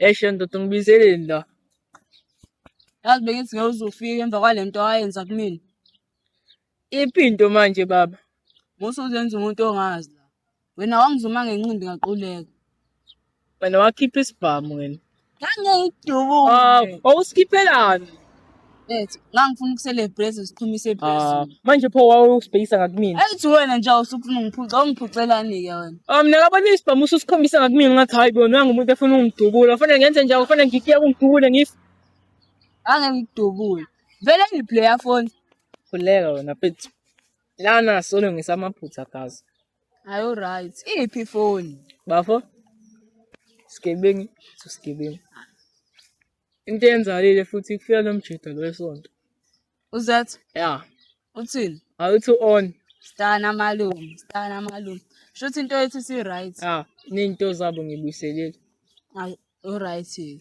Eshonto tungibizeleni la. Yazi bengithi ngeke uzofika emva kwalento ayenza kumina. Iphi into manje baba? Musa uzenza umuntu ongazi la. Wena wangizuma ngenqindi ngaquleka. Wena wakhipha isibhamu wena. Ngangiyidubule. Ah, wawusikhiphelani? Ethi ngangifuna ukuselebrate siqhumise Ah, phezulu. manje pho wawusibhekisa ngakumina. Ethi wena nje awusufuna ungiphuca, ungiphucelani ke wena? Ah, mina kabona isibhamu ususikhombisa ngakumina ngathi hayi bona nangumuntu efuna ungidubula. Kufanele ngenze njani? Kufanele ngikuyeke ungidubule ngif. Ngangiyidubule. Vele ngiplayer phone. Khuleka wena mfethu. Lana solo ngisamaphutha gazi. Ayo right. Iphi phone? Bafo. Sigebengi, so sigebengi. Into eyenzalile futhi kufika lo mjita lo esonto. Uzat? Yeah. Uthini? Awuthi on. Stana malume, stana malume. Shuthi into yethu si right. Ah, ninto zabo ngibuyiselile. Hayi, u right.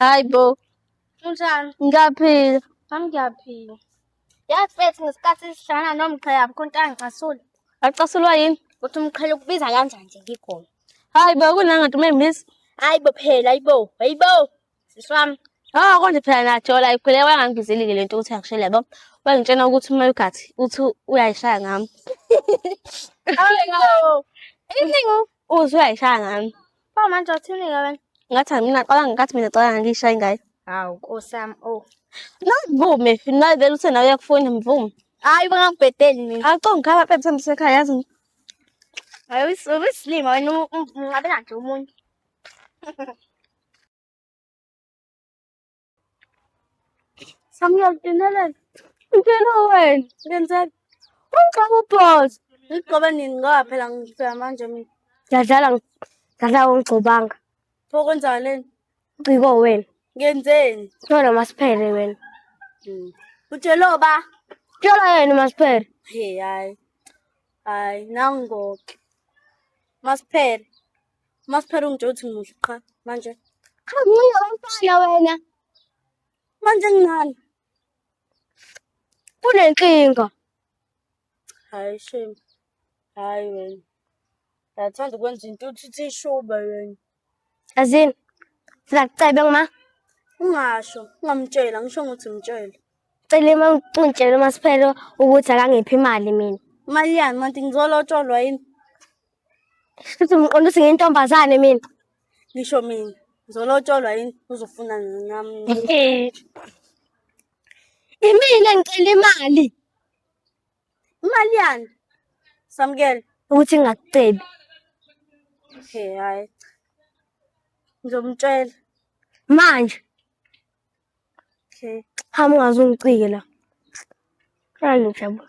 Hayi bo. Unjani? Ngiyaphila. Nami ngiyaphila. Yazi mfethu ngesikhathi sihlangana nomqhe yabo konke angicasuli. Acasulwa yini? Ukuthi umqhele ukubiza kanjani nje ngikhona. Hayi bo kunangathi umembizi. Hayi bo phela hayi bo. Hayi bo. Sisi wami. Ah konje phela najola ikhuleka wangangibizeli-ke lento ukuthi angishele yabo. Wangitshena ukuthi uma ugathi uthi uyayishaya ngami. Hayi bo. Iningi uzwe uyayishaya ngami. Pho manje wathuneka wena. Ngathi angina xala ngathi mina xala ngishaye ingane. Hawu nkosam oh. Navume naye vele uthe nawe uyakufuna mvume. Hayi bangakubhedeli mina. Awu ngikhala phela mthembu sekhaya yazi. Hayi uyisilima wena unqabela nje umuntu. Samuel, Dinelel. Ngitshela wena. Ngenzeni? Ungixaka ubhozo. Ngigcobe nini ngoba phela ngifika manje mina. Ngiyadlala ngidlala ungigcobanga. Pho kwenzani leni? Ciko wena. Ngenzeni? Ngithola masiphele wena. Hmm. Utshelo ba? Tshela yena masiphele. Hey hayi. Hayi nangoke. Masiphele. Uma siphela ungitshela ukuthi ngimuhle qha manje. Cha mncane womfana wena. Manje nginani? Kunenkinga. Hayi shame. Hayi wena. Yathanda ukwenza into uthi ishuba wena. Azini. Sina kucebe ngima. Ungasho, ungamtshela, ngisho ukuthi mtshele. Cela uma ngitshela uma siphela ukuthi akangiphi imali mina. Imali yani manje ngizolotsholwa yini? Futhi ngiqonda ukuthi ngiyintombazane mina. Ngisho mina. Ngizolotsholwa yini uzofuna nami. Imina ngicela imali. Imali yani? Samukele. Ukuthi ngingakucebi. Okay, hayi. Ngizomtshela. Manje. Okay. Hamba ungaze ungicike la. Hayi ngijabula.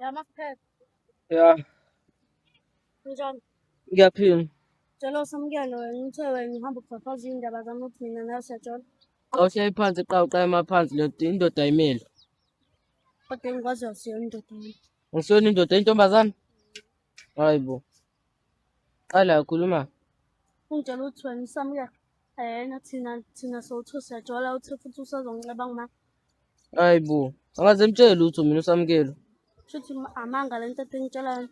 Ya makuphepha. Ya. Njani? Ngiyaphila. Cela usamukele wena uthe wena uhamba ukufafaza iy'ndaba zami ukuthi mina nawe siyajola. Xa uhleli phansi qha uqala emaphansi ndoda indoda ayimeli. Kodwa engikwaziyo siyona indoda yami. Ngisiyona indoda intombazane? Hayi bo. Qala ukhuluma. Ungitshela ukuthi wena usamukela ayena thina thina sowuthu siyajola uthi futhi usazongicabanga uma Hayi bo. Angaze mtshele lutho mina usamukelo. shuthi amanga le nto engitshela yona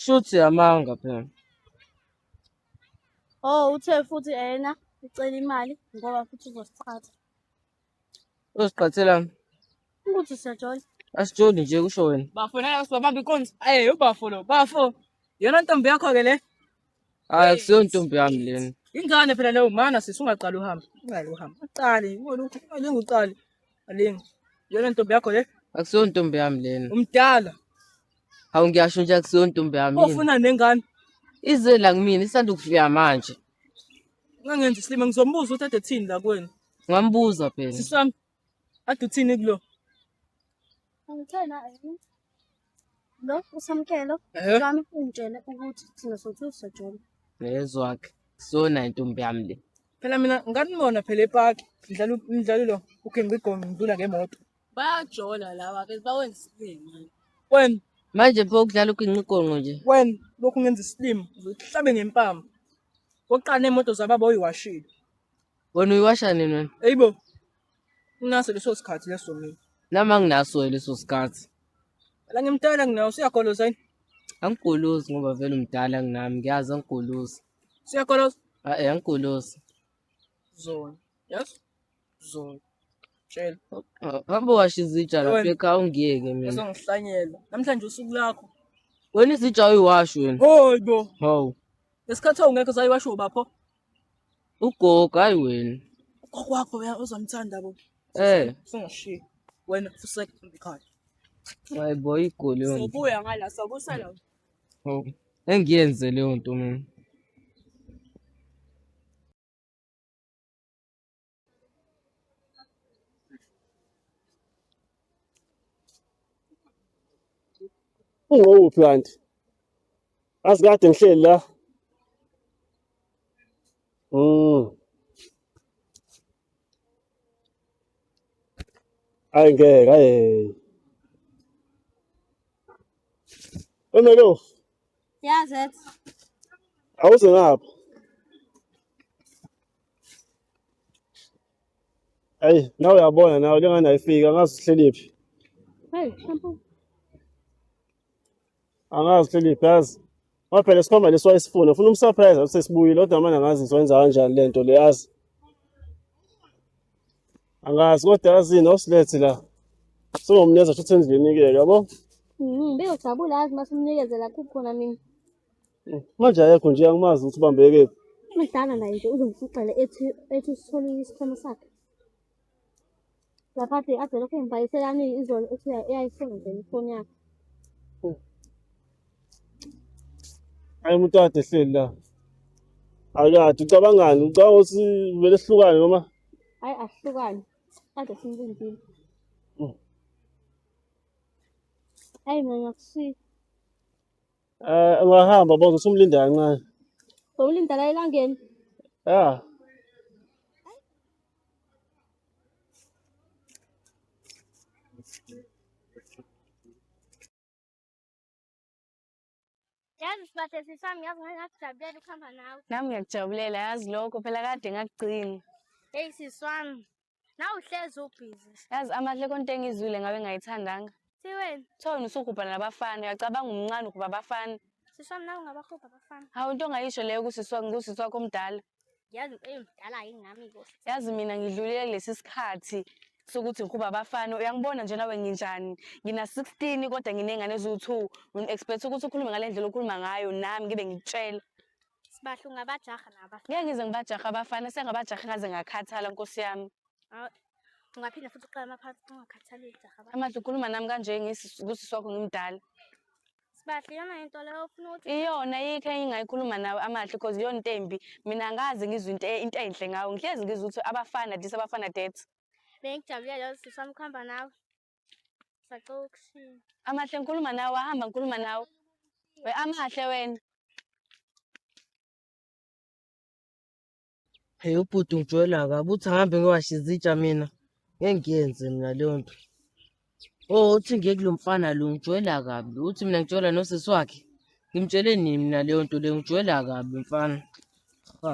Shuthi amanga phela. oh uthe futhi ayena ucela imali ngoba futhi uzosiqhatha Uziqhathela ukuthi siyajola. Asijoli nje kusho wena. Bafo naye usibamba inkonzo. Aye ubafo lo. Bafo. Yona ntombi yakho ke le. Hayi kusiyo ntombi yami lena. Ingane phela leyo mana sisi ungaqali uhambe. Ungaqali uhambe. Uqali, ngolokhu alingi uqali. Alingi. Yona ntombi yakho le. Akusiyo ntombi yami lena. Umdala. Hawu ngiyasho nje akusiyo ntombi yami. Ofuna nengane. Ize la kumina isanda ukufika manje. Ungangenzi isilima ngizombuza ukuthi ade thini la kwenu. Ngambuza phela. Sisi wami. Ade uthini kulo? Angithena yini? Lo usamkelo Eh? wami ungitshele ukuthi thina sothi uzojola. Ngezwakhe. Sona intombi yami le. Phela mina nganibona phela epaki ngidlala u- umdlalo lo uGengi Gome ngidlula ngemoto. Bayajola laba ke bawenza isilima. Wena Manje pho ukudlala uginqigonqo nje. wena lokhu ngenza isilima uzohlabe ngempama. Oqala nemoto zababa oyiwashile. Wena uyiwasha nini wena? Hey bo. Unaso leso sikhathi leso mina. Nami anginaso leso sikhathi. Ala ngimtala nginawo siyagoloza yini? Angigolozi ngoba vele umdala nginami ngiyazi angigolozi. Siyagoloza? Hayi eh, angigolozi. Zona. Yes. Zona. Tshela. Hamba washa izitsha lapha ekhaya ungiyeke mina. Uzongihlanyela. Namhlanje usuku lakho. Wena izitsha uyiwashi wena. Hoyi bo. Hawu. Ngesikhathi awungekho sayiwasho bapho. Ugogo hayi wena. Kokwakho wena uzomthanda bo. Eh. Singashiyi. Wena fuseka ekhaya. Hayi boy igoli yona. Sobuya ngala sokusala. Oh. Engiyenze leyo nto mina. Ungowuphi kanti? Azi kade ngihleli la. Mm. Ay ngeke ay. Emelo. Yazet. Awuze ngapha. Ayi, nawe uyabona nawe lengane ayifiki angazi uhleliphi. Hey, shampoo. Angazi uhleliphi yazi. Ngoba phela sikhomba leso ayisifuna. Ufuna umsurprise athi sesibuyile kodwa manje angazi ngizoyenza kanjani le nto le yazi. Angazi kodwa yazini awusilethi la. Singomneza futhi endlini ke yabo. Mhm, beyojabula yazi mase umnikezela kuphi khona mina. Eh, manje ayekho nje angimazi ukuthi ubambeke kuphi. Umdala naye nje uzomfuxele ethi ethi usitholile isikhwama sakhe. Laphathi ade lokho engibhayiselani izolo ethi eyayisebenzela ifoni yakhe. Hayi umuntu kade ehleli la. Akade ucabangani? Ucabanga ukuthi vele sihlukane noma? Hayi ahlukane. Ade simlindile. Mm. Hayi mina ngiyakushiya. Eh ungahamba bozo sumlinda kancane. Bowulinda la elangeni. Yeah. Yazi sibathe sisami yazi ngake ngakujabulela ukuhamba nawe. Nami ngiyakujabulela yazi lokho phela kade ngakugcina. Hey siswami. Nawe uhlezi ubhizi. Yazi amahle konke engizwile ngabe ngayithandanga. Siweni. Thona usugubha nabafana, uyacabanga umncane ukuba abafana. Siswa mina ungabahubha abafana. Hawu into ongayisho leyo kusiswa ngusisi wakho omdala. Yazi eyomdala yingami ko. Yazi mina ngidlulile kulesi sikhathi sokuthi ngihuba abafana uyangibona nje nawe nginjani ngina 16 kodwa nginengane eziwu2 ngin expect ukuthi ukhulume ngalendlela okhuluma ngayo nami ngibe ngikutshela Sibahle ungabajaha naba. Ngeke ngize ngibajaha abafana sengabajaha ngaze ngakhathala nkosi yami. Awu, Ungaphinde futhi uqale amaphansi ungakhathali ujaha abafana. Amadla ukhuluma nami kanje ngisi- kusisi wakho ngimdala. Sibahle iyona into leyo ofuna ukuthi Iyona yikho engingayikhuluma nawe amahle because iyona into embi. Mina ngaze ngizwe into e- into enhle ngawo. Ngihlezi ngizwe ukuthi abafana this abafana that. bengijabulele lolu sisi wami ukuhamba nawe. Sacela ukushiya. Amahle ngikhuluma nawe wahamba ngikhuluma nawe. We amahle wena. Hey ubhuti ngijwela kabi uthi angihambe ngiwashe izitsha mina. Ngeke ngiyenze mina leyo nto. Oh uthi ngiye kulo mfana lo ngijwela kabi. Uthi mina ngijwela nosisi wakhe. Ngimtshele nini mina leyo nto le ngijwela kabi mfana. Ha.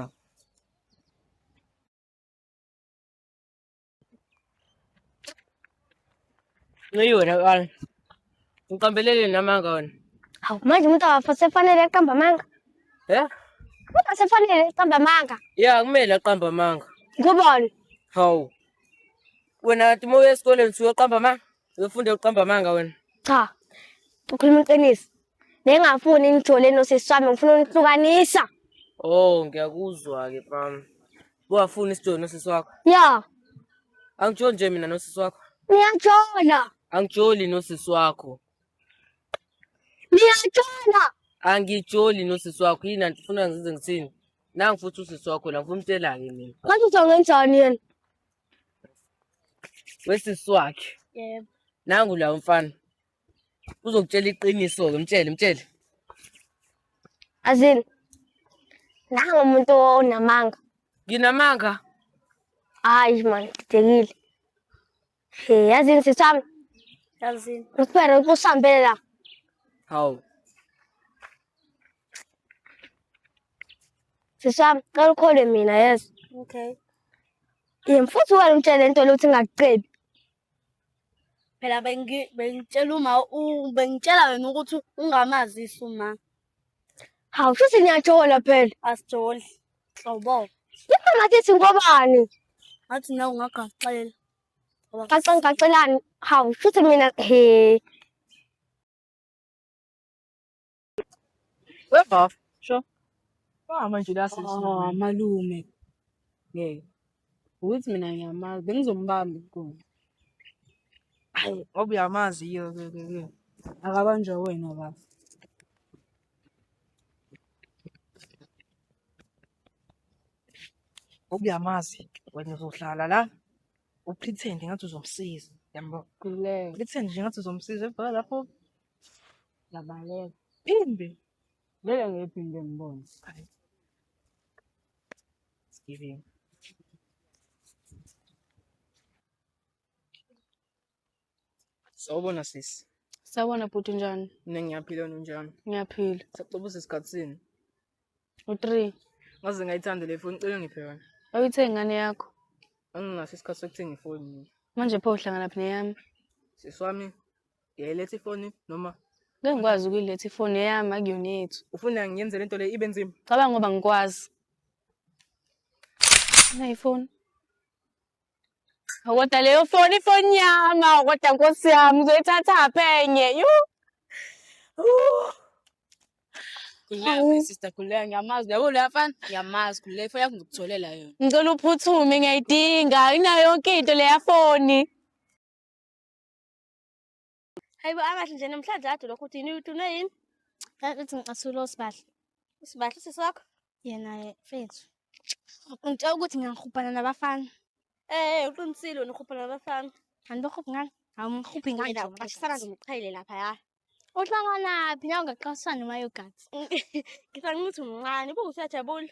Ngayiwe la wala. Ngiqambelele namanga wena. Hawu manje umuntu awafa sefanele aqamba amanga. Eh? Kodwa sefanele aqamba amanga. Ya kumele aqamba amanga. Ngubani? Hawu. Wena uma uya esikoleni usuke uqamba amanga. Uyofunda uqamba amanga wena. Cha. Ukhuluma iqiniso. Nengafuni nijole nosisi wami ngifuna unihlukanisa. Oh ngiyakuzwa ke mama. Wafuna isijola nosisi wakho? Ya. Angijoli nje mina nosisi wakho. Niyajola. Angijoli nosisi wakho. Niyajola. Angijoli nosisi wakho. Yini anti ufuna ngizenze ngithini? Nangu futhi usisi wakho la ngifuna umtshela-ke mina. Manje uzongenjani yena? Wesisi wakhe. Yebo. Nangu la umfana. uzokutshela iqiniso-ke mtshele mtshele azini nangu umuntu onamanga nginamanga hayi mani didekile he yazini sisami yazini usibere usihambele la hawu sisami cela ukholwe mina yes okay yemfuthi wena umtshele into lokuthi ingakucebi phela bengitshela uma bengitshela wena ukuthi ungamazisi uma hawu futhi niyajola phela asijoli hlobo yipha ngathi ithi ngobani ngathi nawe ungagaxela gaxa ngigaxelani hawu futhi mina he Webaf, sho. Wahamba nje la sisi. Oh, malume. Ngeke. Ukuthi mina ngiyamazi, bengizombamba inkuni. Ayi, ngoba uyamazi yiyo ke ke ke. Akabanjwa wena baba. Ngoba uyamazi, wena uzohlala la. Upretend ngathi uzomsiza. Yambo. Kuleka. Pretend nje ngathi uzomsiza ebhala lapho. Ngiyabaleka. Imbi. Ngeke ngiphinde ngibone. Hayi. Giving. Sawubona sisi. Sawubona bhuti njani? Mina ngiyaphila wena unjani? Ngiyaphila. Sacela usesikhathi sini? U-three. Ngaze ngayithanda le foni cela ngiphe yona. Awuyithe ingane yakho. Anginaso isikhathi sokuthenga ifoni mina. Manje pho uhlanganaphi neyami? Sisi wami Ngiyayiletha ifoni noma Ngeke ngikwazi ukuyiletha ifoni eyami akuyona yethu. ufuna ngiyenze lento le ibe nzima? Cabanga ngoba ngikwazi. Nayi ifoni. Hawu, Kodwa leyo foni ifoni yami, hawu, kodwa nkosi yami uzoyithatha phenye. Yu. Hawu. sister khuleka ngiyamazi yabo leya mfana ngiyamazi khuleka ifoni yakho ngikutholela yona Ngicela uphuthume ngiyayidinga. Inayo yonke into leya foni. Hayibo akahle nje namhlanje ade lokho uthi yini uthune yini? Uthi ngicasulo sibahle. Sibahle usisi wakho? Yena mfethu. Ngitshela ukuthi ngiyangihubhana nabafana. Eh uqinisile wena uhubhana nabafana. Kanti bohubha ngani? Hawu ngihubhe ngani? Wena uqashisana nje umqhayile lapha ya. Uhlanganaphi nawe ngaqashisana noma yogathi? Ngisangithuthi umncane, bukusuyajabula.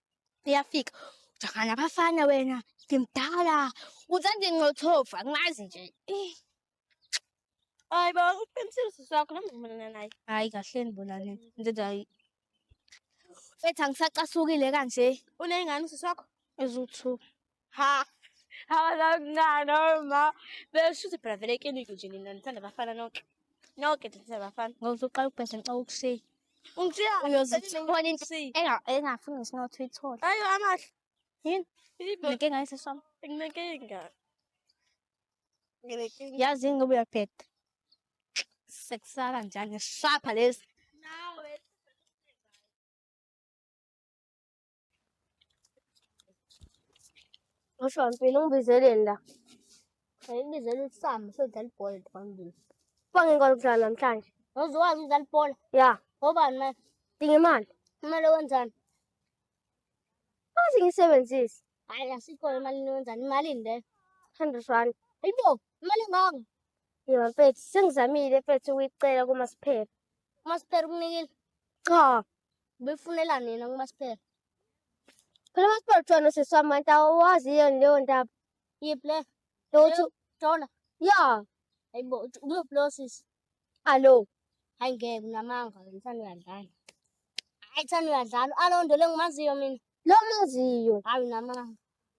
iyafika ujahana nabafana wena ngimdala uthanda inqothofa ngazi nje Eh, hayi baba uqinisile usisi wakho noma ngimelana naye hayi kahleni bona le ndoda hayi fethu angisacasukile kanje uneyingane usisi wakho eziwu-two ha abazakuncane oma besho ukuthi phela vele ikiliku nje nina nithanda abafana nonke nonke nithanda abafana ngoba uzoqala ukubhesha ngicela ukushiya ungishiya uyozithola into engafuni ngisinothi uyithole ayo amahle yini inenkinga yesiswami inenkinga yazi yini ngoba uyabheda sekusaka njani shapha lesi Usho mpilo ungibizeleni la. Ngibizela uSam sodlala ibhola phambili. Fange ngikwazi ukudlala namhlanje. Ngizokwazi ukudlala ibhola. Ya. Ngobani manje? Dinga imali. Kumele wenzani? Azi ngisebenzise. Hayi asikho imali wenzani? Imali le. 100 rand. Ayibo, imali ngako. Yebo mfethu, sengizamile mfethu ukuyicela kuMasiphela. UMasiphela ukunikile? Cha. Ubefunela nina kumasipela. Phela umasipela kuthiwa nosisi wami kanti awazi yini leyo ndaba. Yiphi le? Lokuthi Dola. ya Hayi bo, uthi umuphi lo sisi? alo Hayi ngeke unamanga wena thanda uyadlala. Hayi thanda uyadlala. Alondo le ngimaziyo mina. lo maziyo Hayi unamanga.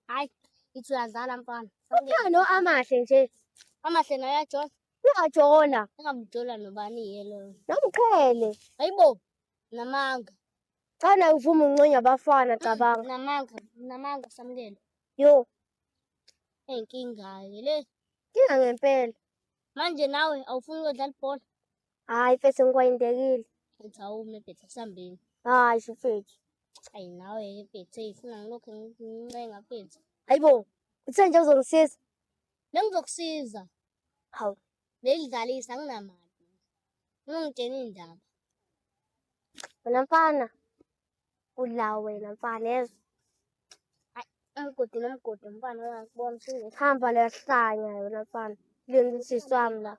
Hayi ithi uyadlala mfana. uthando amahle nje Amahle naye ajona. uyajona Engamujola nobani yelo. nomqhele Hayi bo, Namanga. Cha naye uvuma unconya abafana cabanga. Namanga, namanga samukelo. Yo. Enkinga ke le. Kinga ngempela. Manje nawe awufuni ukudlala ibhola? Hayi mfethu ngikwayindekile. Mfethu awume mfethu sambeni. Hayi mfethu. Ayi nawe ke mfethu ifuna ngilokhu ngincenga mfethu. Hayibo, uthe nje uzongisiza? Bengizokusiza. Hawu. Belidlalisa anginamali. Ungitshena indaba. Wena mfana. Udla wena mfana yezwa. Umgodi nomgodi mfana uyakubona usuke. Hamba lehlanya wena mfana. Lindisiswami la.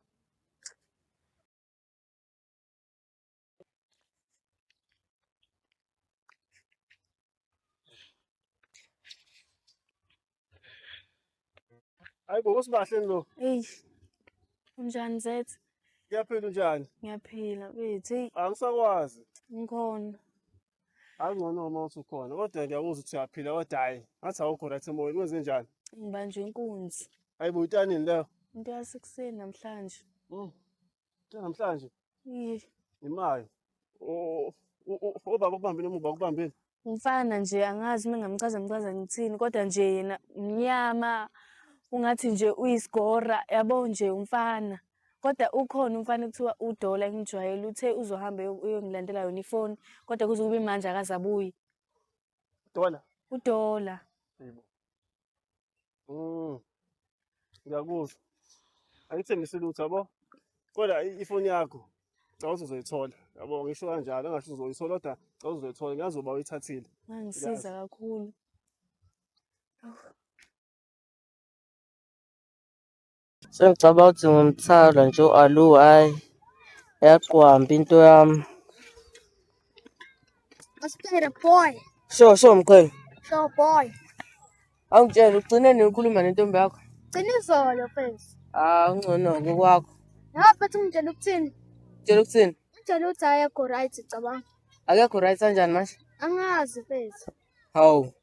Hayi bo usibahle lo. Ey. Unjani zethu? Ngiyaphila unjani? Ngiyaphila bethu. Hey. Angisakwazi. Ngikhona. Angcono uma usukhona. Kodwa ngiyakuzwa ukuthi uyaphila kodwa hayi. Ngathi awukho right emoyeni kwenze njani? Ngibanjwe inkunzi. Hayi bo utanini leyo? Into yasekuseni namhlanje. Mm. namhlanje imayo obaba kubambile umuba kubambile umfana nje angazi uma ngamchaza mchaza ngithini kodwa nje yena mnyama ungathi nje uyisigora yabo nje umfana kodwa ukhona umfana kuthiwa udola engijwayele uthe uzohamba uyongilandela yona ifoni kodwa kuze kube manje akazabuyi dola udola Mm. Ngiyakuzwa. Angithembisi lutho yabo. Kodwa i- ifoni yakho cela ukuthi uzoyithola. Yabo ngisho kanjalo engasho uzoyithola kodwa cela ukuthi uzoyithola ngiyazi uba uyithathile. Ngangisiza kakhulu. Sengicabanga ukuthi ngumthala nje u-alu hhayi yaqwamba into yami. Asipere boy. Sho sho mqhele. Sho boy. Awungitshela ugcine nini ukhuluma nentombi yakho? Gcina izolo mfethu. Ah ungcono-ke kwakho. Ya mfethu ungitshela ukuthini? Tshela ukuthini? Ungitshela ukuthi ayekho right cabanga. Akekho right kanjani manje? Angazi mfethu. Hawu.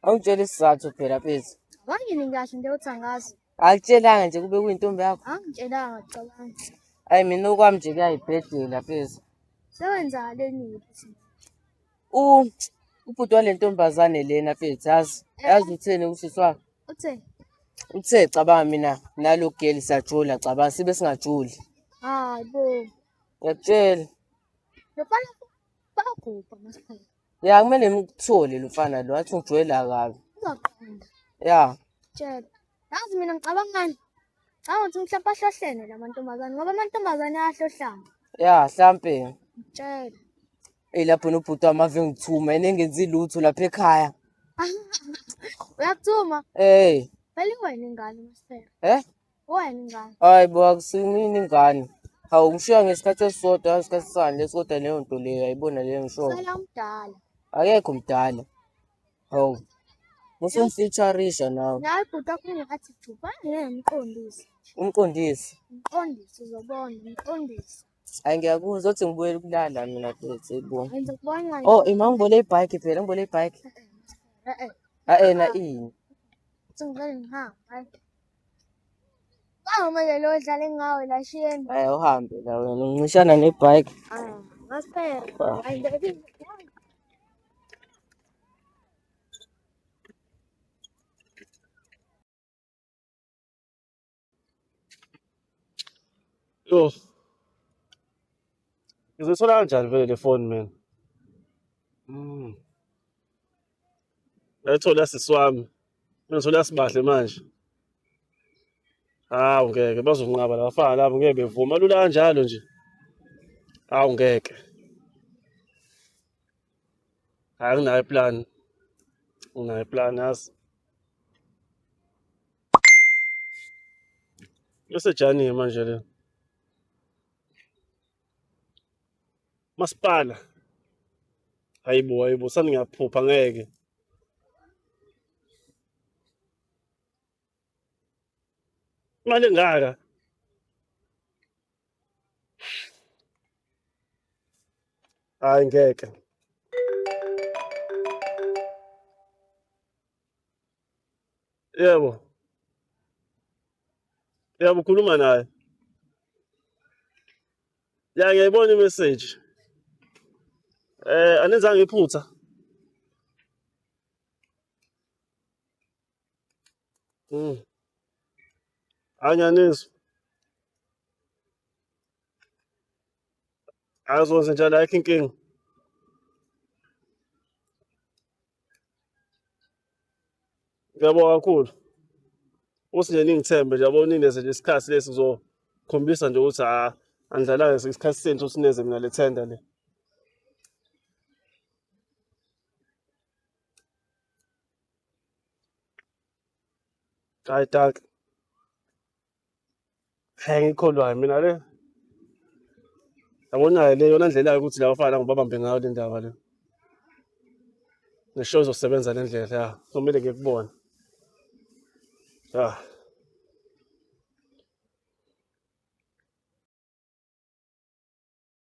Awungitshela isizathu phela Pezi. Wayini kahle into yothangaza. Akutshelanga nje kube kuyintombi yakho. Angitshelanga cabanga. Ayi mina okwami nje kuyayibhedela Pezi. Sewenza leni ukuthi U ubhuti wale ntombazane lena Pezi yazi. Yazi utheni usisi wakhe. uthe Uthe cabanga mina nalo girl sajula cabanga sibe singajuli. hayi bo. Ngiyakutshela. Yofana Bagubha masiphethe. Ya kumele ngimthole lo mfana lo athi ngijwayela kabi. Uzaqonda. Ya. Tshela. Yazi mina ngicabangani? Ngicabanga ukuthi mhlawumbe ahlohlene la mantombazane ngoba amantombazane ayahlohlana. Ya hlampe. Tshela. Eyi lapho nobhuti wami ave ngithuma yena engenzi lutho lapha ekhaya. Uyakuthuma? Eh. Vele wena ingane masiphethe. Eh? Wenxa. Hayi bo akusimini ingane. Hawu ngishiya ngesikhathi esisodwa ngesikhathi sani lesi kodwa leyo nto leyo ayibona leyo ngishoyo. Sala umdala. Akekho mdala. Hawu. Musumfeaturisha nawe. Nawe bhuti akhona athi juba ngeke ngiqondise. Umqondisi. Mqondisi uzobona mqondisi. Hayi ngiyakuzwa uthi ngibuyele ukulala mina bhuti bo. Ngenza kubona. Oh ima ngibole ibike phela ngibole ibike. Eh eh. Hayi na ini. Uthi ngicela ngihamba. Awumele lo dlale ngawe la shiyeni. Hayi uhambe la wena uncishana nebike. Ah, ngasiphela. Ah. Hayi baby. Yo. Ngizothola kanjani vele le phone mina? Mm. Ngayithola sisi wami. Ngithola sibahle manje. Hawu ngeke bazonqaba labafana labo ngeke bevuma lula kanjalo nje. Hawu ngeke. Hayi nginayo plan. Nginayo plan yazi. Yosejani manje le. Masipala. Hayibo, hayibo, sani ngiyaphupha ngeke. Imali engaka? Hayi ngeke. Yebo. Yebo ukhuluma naye. Ya ngiyayibona i-message. Eh anenzanga iphutha. Mm. Anyanizwa. Azokwenza njani ayikho inkinga. Ngiyabonga kakhulu. Uthi nje ningithembe nje yabo nineze nje isikhathi lesi ngizokhombisa nje ukuthi ha anidlalayo isikhathi senu ukuthi nineze mina le tender le. Hhayi dankie. Hey ngikholwayo mina le. Yabona le yona ndlela ukuthi la bafana ngibabambe ngayo le ndaba le. Ngisho izosebenza le ndlela ya. Kumele ngikubone. Ya.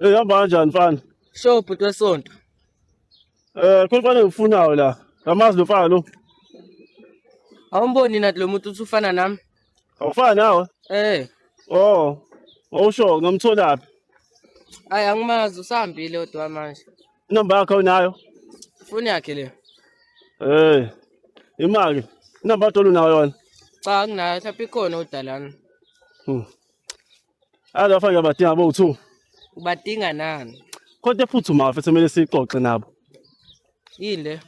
Eh hamba kanjani mfana? Sho bhuti wesonto. Eh khona mfana ngifunayo la. Ngamazi lo mfana lo. Awumboni nathi lo muntu uthi ufana nami? Awufana nawe? Eh. Oh. Awusho ngamtholaphi? Hayi angimazi usahambile odwa manje. Inamba yakhe unayo? Foni yakhe le. Eh. Imali. Inamba tolo nayo yona. Cha anginayo mhlawumbe ikhona odalana. Hmm. Azi bafana ngiyabadinga bowu-two. Ubadinga nani? Kodwa ephuthumayo mfethu kumele siyixoxe nabo. Yini le?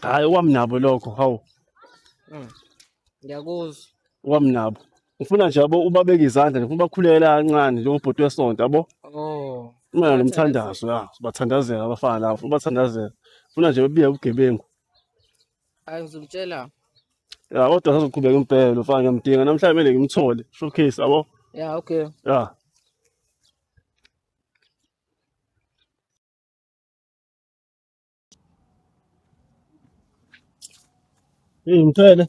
Hhayi okwami nabo lokho, hawu. Mm. Ngiyakuzwa. Okwami nabo. Ngifuna nje yabo ubabeke izandla, ngifuna ubakhulekele kancane njengobhuti wesonto yabo. Oh. Kumele nomthandazo ya, sibathandazela abafana labo, ubathandazela. Ngifuna nje bebike ubugebengu. Hayi ngizomtshela. Ya kodwa sazoqhubeka impela lo mfana ngiyamdinga namhlanje kumele ngimthole. Showcase yabo. Ya okay. Ya. Hey mthele.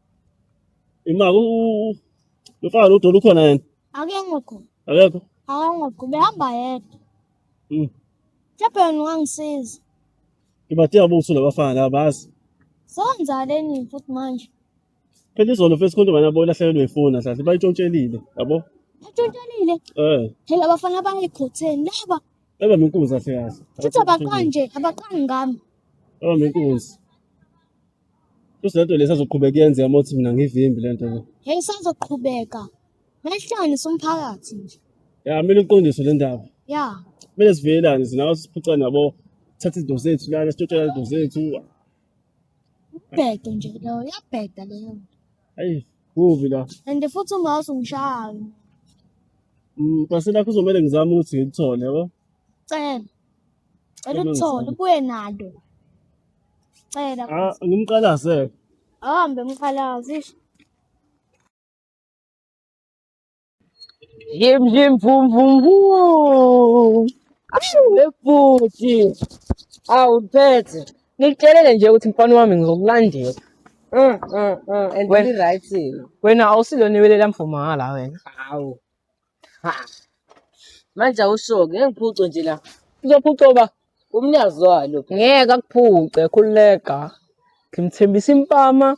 Imaka u lofana lodolo ukhona yena. Akekho khona. Akekho. Akangokho behamba yedwa. Mm. Mhlawumbe wena ungangisiza. Ngibadinga buthu labafana laba bazi. Senzaleni futhi manje. Phela izolo mfethu khona bana bona hlakelwe ifoni ahlahle bayitshontshelile yabo. Batshontshelile. Eh. Phela abafana bayikhotheni laba. Eba minkunzi ahle kahle. Futhi abaqanje abaqangi ngami. Eba minkunzi. Kusho lento lesi azoqhubeka yenzeka uma uthi mina ngivimbi lento le. Hey sazoqhubeka. Mehlanisa umphakathi nje. Ya mina uqondiswe le ndaba. Ya. Mina sivelelane sinawo siphuca nabo thatha izinto zethu lana sitshotshela izinto zethu. Ubhedo nje leyo yabheda leyo. Hayi kubi la. And futhi ungazi ungishaya. Mm, base lakho uzomele ngizame ukuthi ngikuthole yabo. Cela. Cela uthole ubuye nalo. Cela. Ah, ngimqalaze. Ahambe mqalaze. ish. Yim yim vum vum vum. Ashu webhuti. Awu phethe. Ngikutshelele nje ukuthi mfana wami ngizokulandela. Mm, mm, mm. And Wena- really right. Wena awusilona iwele lamfumanga la wena. Awu. Ha. Manje awusho-ke ngeke ngiphucwe nje la. Uzophucwa uba umnikazi walo. Ngeke akuphuce khululeka. Ngimthembisa impama,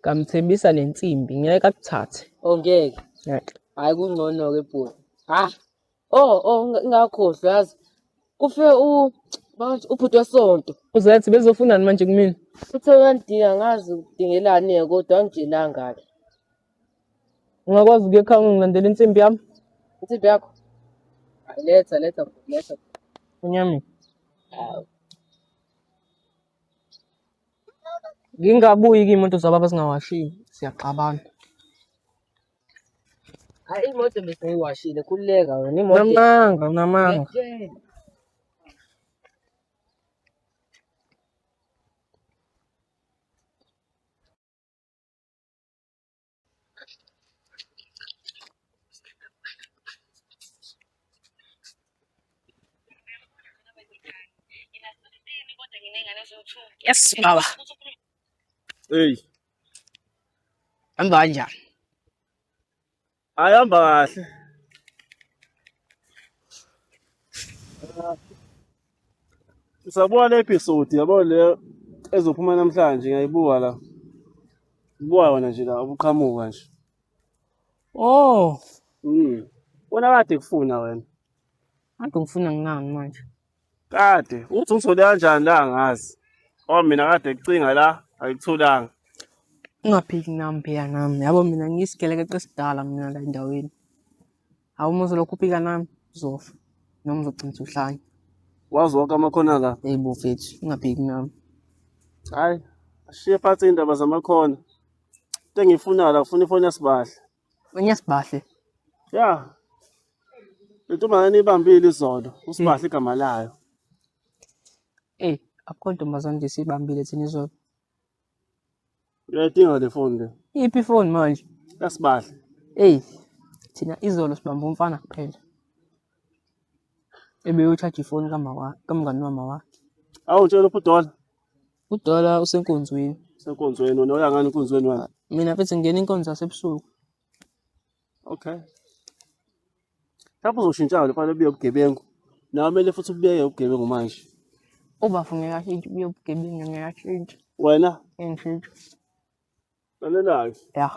ngamthembisa nensimbi. Ngeke akuthathe. Oh ngeke. Ngeke. Hayi kungcono-ke bhuti. Ha. Oh oh unga- ungakhohlwa yazi. Kufe u manje ubhuti wesonto. Uzethi bezofunani manje kumina? Uthe uyandinga ngazi udingelani-ke kodwa angitshelanga-ke. Ungakwazi ukuya ekhaya ungilandela insimbi yami? Insimbi yakho? Letha, letha, letha. Unyami. Hawu. Ngingabuyi kuyimoto zababa singawashile. Siyaxabana. Hayi imoto besiyiwashile khululeka wena imoto. Unamanga, unamanga. Yes, baba. Hey. Hamba kanjani? Ayihamba kahle. Sabuka le episode yabo le ezophuma namhlanje ngiyayibuka la. Ubuka wona nje la ubuqhamuka nje. Oh, Mm. Wena kade kufuna wena. kade ngifuna ngingani manje. Kade uthi uthole kanjani la ngazi. Oh mina kade kucinga la ayikutholanga. Ungaphiki nami phela nami. Yabo mina ngiyisigelekeqe esidala mina la endaweni. Hawu uma uzolokhu uphika nami uzofa noma uzogcina uhlanya. Wazi wonke amakhona la. Hey bo fethu ungaphiki nami. Hayi ashiye phansi indaba zamakhona. Into engiyifunayo la ngifuna ifoni yasibahla. Enye sibahle. Ya. Le ntombazane ibambile izolo. Usibahle igama layo. Ey, akukho ntombazane nje siyibambile thina izolo. Uyayidinga le foni le. Iphi ifoni manje? Yasibahle. Ey, thina izolo sibamba umfana kuphela. Ebeyothatha ifoni kamama kamngani wamama wakhe. Awu tshela uPudola. Kudala usenkonzweni. Senkonzweni wena uya ngani enkonzweni wena? Mina mfethu ngingena inkonzo yasebusuku. Okay. Lapho uzoshintsha le fanele ubuye ubugebengu. Nawe kumele futhi ubuyeke ubugebengu manje. Ubafo ngeke ashintshe ubuye ubugebengu ngeke ashintshe. Wena? Ngeke ngishintshe. Lalelake. Ya.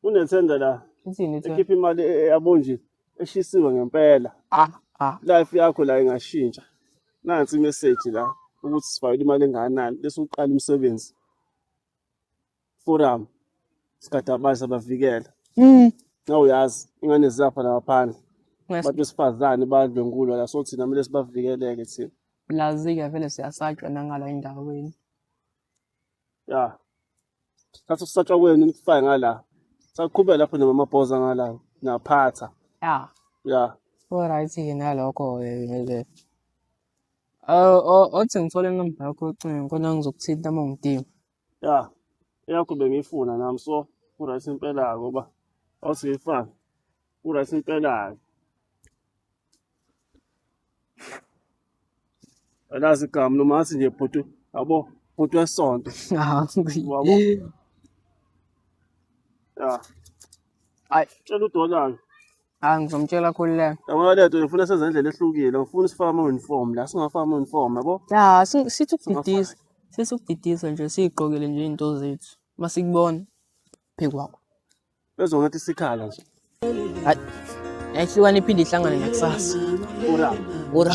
Unethenda la. Ithini ithini? Ekhipha imali e- e- yabonjini eshisiwe ngempela. Ah, ah. Life yakho la ingashintsha. Nansi imessage la ukuthi sifakele imali engakanani bese uqala umsebenzi. Forum. Sikadabazi abavikela. Mm. Nawe uyazi ingane ziyapha la ngaphandle. Nges- Abantu besifazane badlwengulwa la so thina kumele sibavikeleke thina. Lazi-ke vele siyasatshwa nangala endaweni. ya thatha ukusatshwa kwenu nikufake ngala saqhubeka lapho namamabhoza ngala naphatha ya ya Alright ke nalokho ke ngeke. Ah, o- othi ngithole inamba yakho yocingo khona ngizokuthinta uma ngidinga. ya eyakho bengiyifuna nami so uright impela-ke uba awusiyifani uright impela-ke Alazi igama noma ngathi nje bhuti yabo bhuti wesonto. Wabo. Ya. Ayi, tshela udolalo. Hayi ngizomtshela khululeka. Yabona le nto ngifuna senze indlela ehlukile. Ngifuna sifake ama-uniform la, singafaki ama-uniform yabo. Ya, si- sithi ukudidisa. Sithi ukudidisa nje sigqokele nje izinto zethu. Masikubona phekwakho. Bezwa ngathi sikhala nje. Hayi. Yayihlukana iphinde ihlangane nakusasa. Ura. Ura.